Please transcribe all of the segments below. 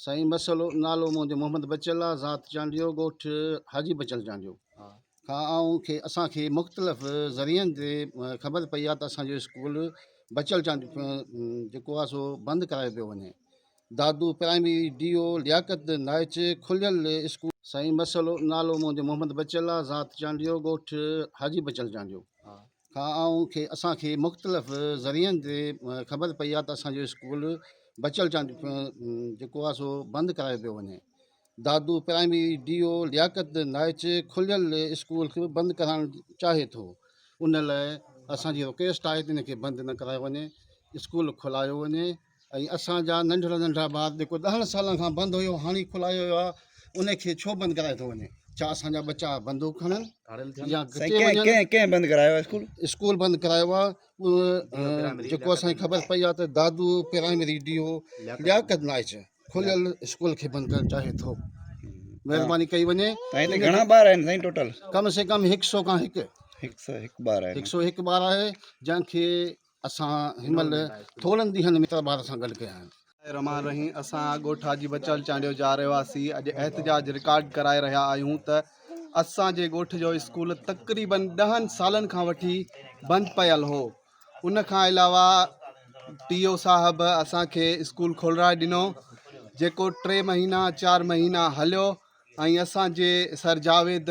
سائين مسئلو نالو منهنجو محمد بچل آ ذات چانڊيو ڳوٺ حاجي بچل چانڊيو کان آئون کي اسان کي مختلف ذريعن تي خبر پئي آ ته اسان جو اسڪول بچل چانڊيو جيڪو آ سو بند ڪرايو پيو وڃي Dadu primary D O Liaquat Naich کليل اسڪول. سائين مسئلو نالو منهنجو محمد بچل آ ذات چانڊيو ڳوٺ حاجي بچل چانڊيو کان آئون کي اسان کي مختلف ذريعن تي خبر پئي آ ته اسان جو اسڪول بچل چانڊيو جيڪو آ سو بند ڪرايو پيو وڃي Dadu primary D O Liaquat Naich کليل اسڪول کي بند ڪرائڻ چاهي ٿو ان لاء اسان جي رڪويسٽ آهي ته ان کي بند نه ڪرايو وڃي اسڪول کلايو وڃي ۽ اسان جا ننڍڙا ننڍڙا ٻار جيڪو ڏهن سالن کان بند هيو هاڻي کلايو ويو آهي ان کي ڇو بند ڪرايو ٿو وڃي ڇا اسان جا ٻچا بندوق کڻن يا گھٽي وڃن ڪنهن ڪنهن بند ڪرايو آهي اسڪول اسڪول بند ڪرايو آهي جيڪو اسان کي خبر پئي آهي ته Dadu primary D O Liaquat Naich کليل اسڪول کي بند ڪرڻ چاهي ٿو مهرباني ڪئي وڃي سائين هتي گھڻا ٻار آهن سائين ٽوٽل ڪم سي ڪم 100 کان هڪ 101 ٻار آهن 101 ٻار آهي جنهن کي اسان هن مهل ٿورن ڏينهن ۾ اتر ٻار سان گڏ ڪيا آهن. الرحمان الرحيم اسان ڳوٺ حاجي بچل چانڊيو جا رهواسي اڄ احتجاج رڪارڊ ڪرائي رهيا آهيون ته اسان جي ڳوٺ جو اسڪول تقريبن ڏهن سالن کان وٺي بند پيل هو ان کان علاوه ٽي او صاحب اسان کي اسڪول کولرائي ڏنو جيڪو ٽي مهينا چار مهينا هليو ۽ اسان جي سر جاويد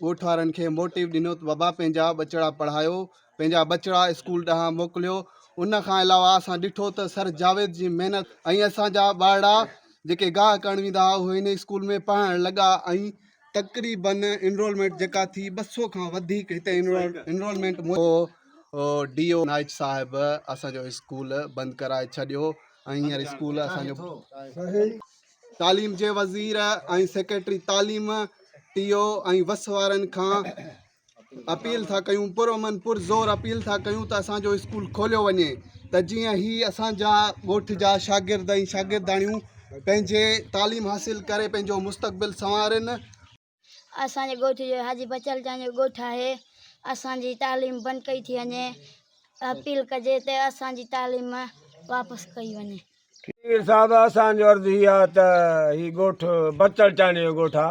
ڳوٺ وارن کي موٽيو ڏنو ته بابا پنهنجا ٻچڙا پڙهايو پنهنجا ٻچڙا اسڪول ڏانهن موڪليو ان کان علاوه اسان ڏٺو ته سر جاويد جي محنت ۽ اسان جا ٻارڙا جيڪي گاهه ڪرڻ ويندا هئا اهي هن اسڪول ۾ پڙهڻ لڳا ۽ تقريبن انرولمينٽ جيڪا ٿي ٻه سؤ کان وڌيڪ هتي انرولمينٽ ڊي او نائچ صاحب اسان جو اسڪول بند ڪرائي ڇڏيو ۽ هينئر اسڪول اسان جو تعليم جي وزير ۽ سيڪريٽري تعليم ٽي او ۽ وس وارن کان اپيل ٿا ڪيون پرامن پرزور اپيل ٿا ڪيون ته اسانجو اسڪول کوليو وڃي ته جيئن هي اسانجا ڳوٺ جا شاگرد ۽ شاگرداڻيون پنهنجي تعليم حاصل ڪري پنهنجو مستقبل سنوارن اسان جي ڳوٺ جو حاجي بچل جان جو ڳوٺ آهي اسان جي تعليم بند ڪئي ٿي وڃي اپيل ڪجي ته اسان جي تعليم واپس ڪئي وڃي. پير صاحب اسان جو عرض هي آ ته هي ڳوٺ بچل چانڊيو جو ڳوٺ آ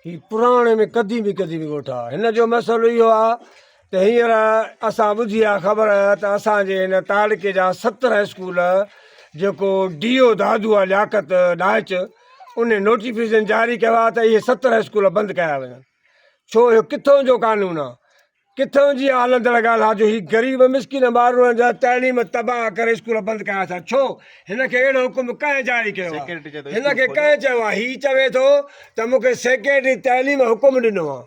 هي پراڻي ۾ قديمي قديمي ڳوٺ آ هن جو مسئلو اهو آ ته هينئر اسان ٻڌي آ خبر ته اسان جي هن تعلقي جا ست هاء اسڪول جيڪو ڊي او دادو آ لياقت ڏاهچ انهي نوٽيفڪيشن جاري ڪيو آ ته اهي ست هاء اسڪول بند ڪيا وڃن ڇو اهو ڪٿون جو قانون آ ڪٿون جي هلندڙ ڳالهه آ جو هي غريب مسڪين ٻارڙن جا تعليم تباهه ڪري اسڪول بند ڪيا ٿا ڇو هن کي اهڙو حڪم ڪنهن جاري ڪيو آ هن کي ڪنهن چيو آ هي چوي ٿو ته مون کي سيڪريٽري تعليم حڪم ڏنو آ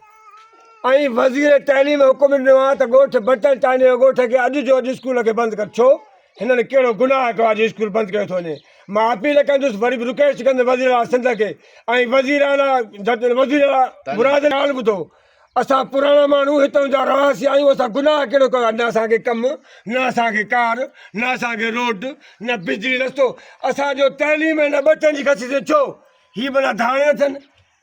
۽ وزير تعليم حڪم ڏنو آهي ته ڳوٺ بٽن ٽانڊي جو ڳوٺ کي اڄ جو اڄ اسڪول کي بند ڪر ڇو هنن ڪهڙو گناهه ڪيو آهي جو اسڪول بند ڪيو ٿو وڃي مان اپيل ڪندس وري به رڪويسٽ ڪندس وزير اعليٰ سنڌ کي ۽ وزير اعليٰ وزير اعليٰ مراد ڳالهه ٻڌو اسان پراڻا ماڻهو هتان جا رهواسي آهيون اسان گناهه ڪهڙو ڪيو نه اسانکي ڪم نه اسانکي ڪار نه اسانکي روڊ نه بجلي رستو اسانجو تعليم هن ٻٽن جي کسي تي ڇو هي بنا ڌاڻي اٿن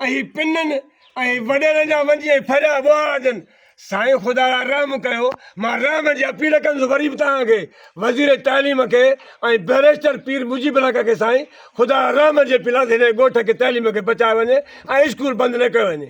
اهي پنن ۽ وڏيرن جا وڃي ۽ ڦريا ٻوهارا ڏين. سائين خدا را رحم ڪيو مان رحم جي اپيل ڪندس وري به توهان کي وزير تعليم کي ۽ بئريسٽر پير مجيب الحق کي سائين خدا را رحم جي اپيل آهي ته هن ڳوٺ کي تعليم کي بچايو وڃي ۽ اسڪول بند نه ڪيو وڃي.